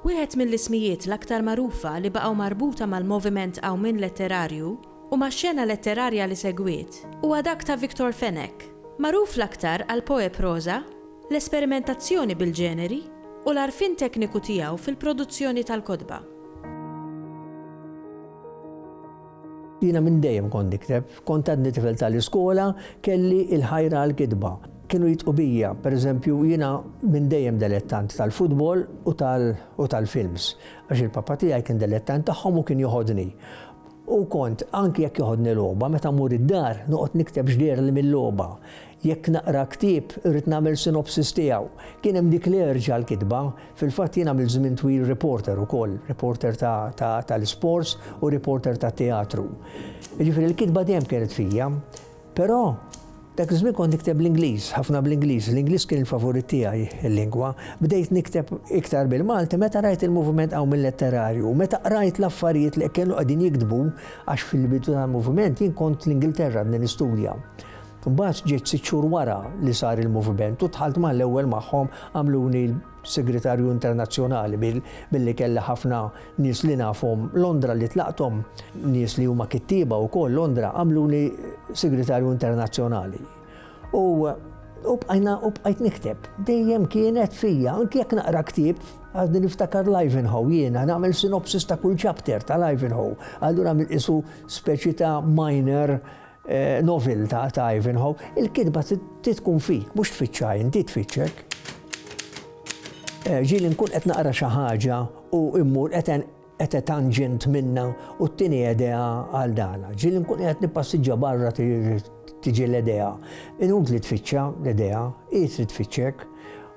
Wieħed mill-ismijiet l-aktar magħrufa li baqgħu marbuta mal-moviment Qawmien Letterarju u max-xena letterarja li segwiet huwa dak ta' Victor Fenech, magħruf l-aktar għall-poeproża, l-esperimentazzjoni bil-ġeneri u l-għarfien tekniku tiegħu fil-produzzjoni tal-kotba. Jiena minn dejjem kont nikteb. Kont għadni tifel tal-iskola, kelli l-ħajra għall-kitba. Kienu jidhqu bija, pereżempju, jiena minn dejjem delettant tal-futbol u tal-films, għax il-papà tiegħi kien delettant tagħhom u kien joħodni. U kont, anki jekk joħodni logħba, meta mmur id-dar, noqgħod nikteb x'deherli mil-logħba. Jekk naqra ktieb, irrid nagħmel synopsis tiegħu. Kien hemm dik l-erġa għall-kitba. Fil-fatt jien għamilt żmien twil reporter ukoll, reporter tal-isports u reporter tat-teatru. Jiġifieri l-kitba dejjem kienet fija. Però, dak iż-żmien kont nikteb bl-Ingliż, ħafna bl-Ingliż, l-Ingliż kien il-favorit tiegħi, il-lingwa. Bdejt nikteb iktar bil-Malti meta rajt il-moviment Qawmien Letterarju u meta qrajt l-affarijiet li kienu qegħdin jiktbu għax fil-bidu tal-moviment jien kont l-Ingilterra għadni nistudja. Mbagħad ġejt sitt xhur wara li sar il-moviment u dħalt mal-ewwel magħhom għamluni Segretarju internazzjonali billi kelli ħafna nies li nafhom Londra li tlaqthom, nies li huma kittieba wkoll Londra għamluni Segretarju Internazzjonali. U u bqajna u bqajt nikteb. Dejjem kienet fija, anki jekk naqra ktieb, għadni niftakar l-Ivanhoe jiena, nagħmel sinopsis ta' kull chapter tal-Ivanhoe. Allura mill-isu speċi ta' minor Noviltà ta' Ivanhoe, il-kitba trid tkun fik, mhux tfittxha int, hi tfittxek. Ġieli nkun qed naqra xi ħaġa u mmur qed etangent minnha u ttini edea għal dala. Ġieli nkun qiegħed nippassiġġa barra tiġi l-edea. Inutli tfittxha l-edea, hi trid tfittxek.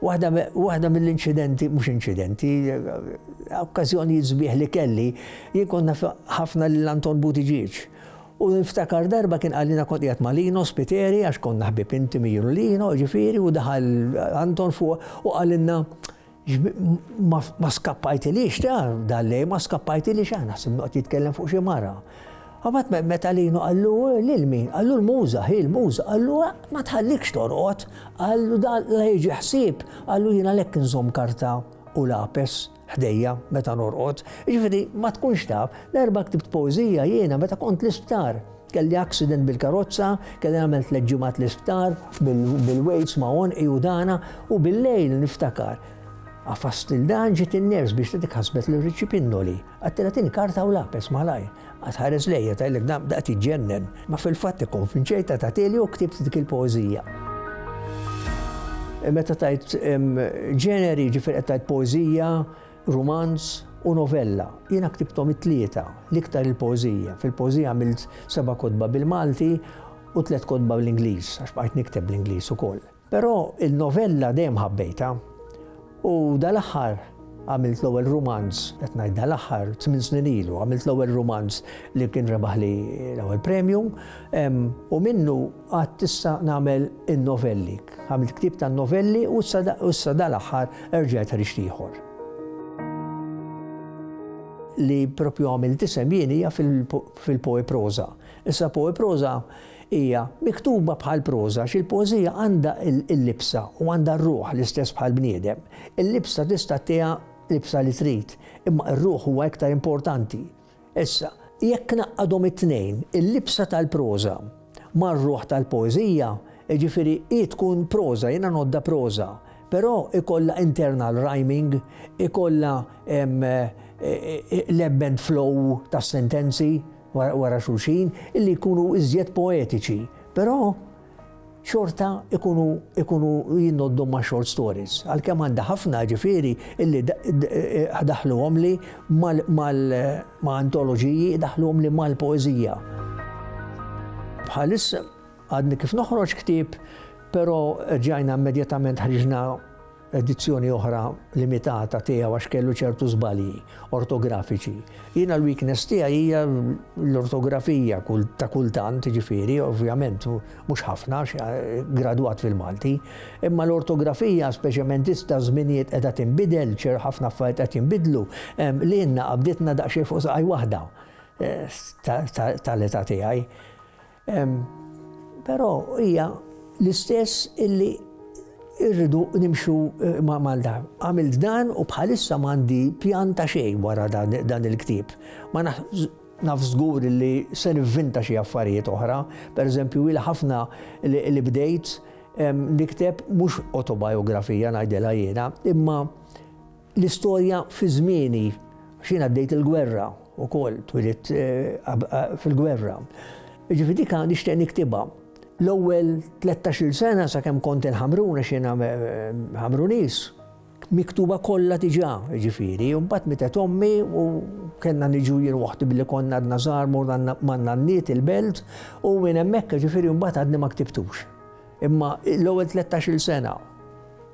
Waħda mill-inċidenti, mhux inċidenti, okkażjonijiet sbieħ li kelli, jien kont naf ħafna lil Anton Buttigieg. U niftakar darba kien qal jiena kont qiegħed ma' Lino Spiteri għax konna ħbieb intimi jien u Lino, jiġifieri, u daħal Anton fuq u qalilna ma skappajtilix ta' dal-lej, ma skappajtilix aħna ħsib noqgħod jitkellem fuq xi mara. Għabat meta Lino qallu lil min, qallu l-muża, hi l-muża, qallu ma tħallikx torqod, qallu dan la jiġi ħsieb, qallu jiena lek nżomm karta u lapes. ħdejja meta norqod, jiġifieri ma tkunx taf, darba ktibt poeżija jiena meta kont l-isptar. Kelli accident bil-karozza, kelli nagħmel tliet ġimgħat l-isptar bil-weights ma' onqi u dana u bil-lejl niftakar. Għafast il-dan ġiet in-ners biex tidik ħasbet l-riċi pinnoli, għattilatini karta u lapes malajr. Qatt ħares lejja, tgħidlek dan b'daqqa tiġġennen, ma fil-fatt ikkonvinċejtha tagħtili u ktibt dik il-poeżija. Meta tgħid ġeneri, jiġifieri qed tgħid poeżija, rumanz u novella. Jiena ktibthom it-tlieta, l-iktar il-poeżija. Fil-poeżija għamilt seba' kotba bil-Malti u tliet kotba bl-Ingliż, għax bqajt nikteb bl-Ingliż ukoll. Però il-novella dejjem ħabbejtha u dal-aħħar għamilt l-ewwel rumanz, qed ngħid dal-aħħar, tmien snin ilu, għamilt l-ewwel rumanz li kien rebaħli l-ewwel premju u minnu għad tista' nagħmel in-novelli. Għamilt ktieb ta' novelli u issa dal-aħħar erġajt ħriġt ieħor li propju għamil tisem jien hija fil-poe proza. Issa poe proza Hija miktuba bħal proża għax il-poeżija għandha l-libsa u għandha r-ruħ l-istess bħall-bniedem. Il-libsa tista' ttiha libsa li trid, imma r-ruħ huwa iktar importanti. Issa, jekk ngħaqqadhom it-tnejn, il-libsa tal-proża mar-ruħ tal-poeżija, jiġifieri hi tkun proża, jiena ngħoddha proża, però jkollha internal rhyming, ikollha l-ebb and flow tas-sentenzi, wara xulxin illi jkunu iżjed poetiċi, però xorta ikunu ikunu jinnoddhom ma' short stories. Għalkemm għandha ħafna ġifieri illi daħluhomli ma' antoloġiji, daħluhomli mal-poeżija. Bħalissa għadni kif noħroġ ktieb, però erġajna immedjatament ħriġna edizzjoni oħra limitata tiegħu għax kellu ċertu żbalji ortografiċi. Jiena l-weakness tiegħi hija l-ortografija ta' kultant, ġifieri, ovvjament mhux ħafna eh, gradwat fil-Malti, imma l-ortografija speċjalment issa żminijiet qiegħda tinbidel, ċer ħafna affarijiet qed jinbidlu, li jenna qabditna daqsxejn fuq saqaj waħda eh, tal-età tiegħi. Però hija l-istess illi irridu nimxu eh, ma' Malta. Għamilt dan u bħalissa m'għandi pjan ta' xejn wara dan il-ktieb. Ma naf żgur li se nivvinta xi affarijiet oħra, pereżempju il ħafna li bdejt nikteb mhux autobiografija ngħidilha jiena, imma L-istorja fi żmieni, għax jien għaddejt il-gwerra wkoll, twilidt fil-gwerra. Jiġifieri dik nixtieq niktibha. L-ewwel tlettax-il sena sakemm kont il-Ħamrun għax jiena Ħamruniż, miktuba kollha diġà, jiġifieri, u mbagħad mietet ommi u kellna niġu jien waħdi billi konna għadna żgħar morna man-nanniet il-belt u minn hemmhekk jiġifieri mbagħad għadni ma ktibtux. Imma l-ewwel tlettax-il sena.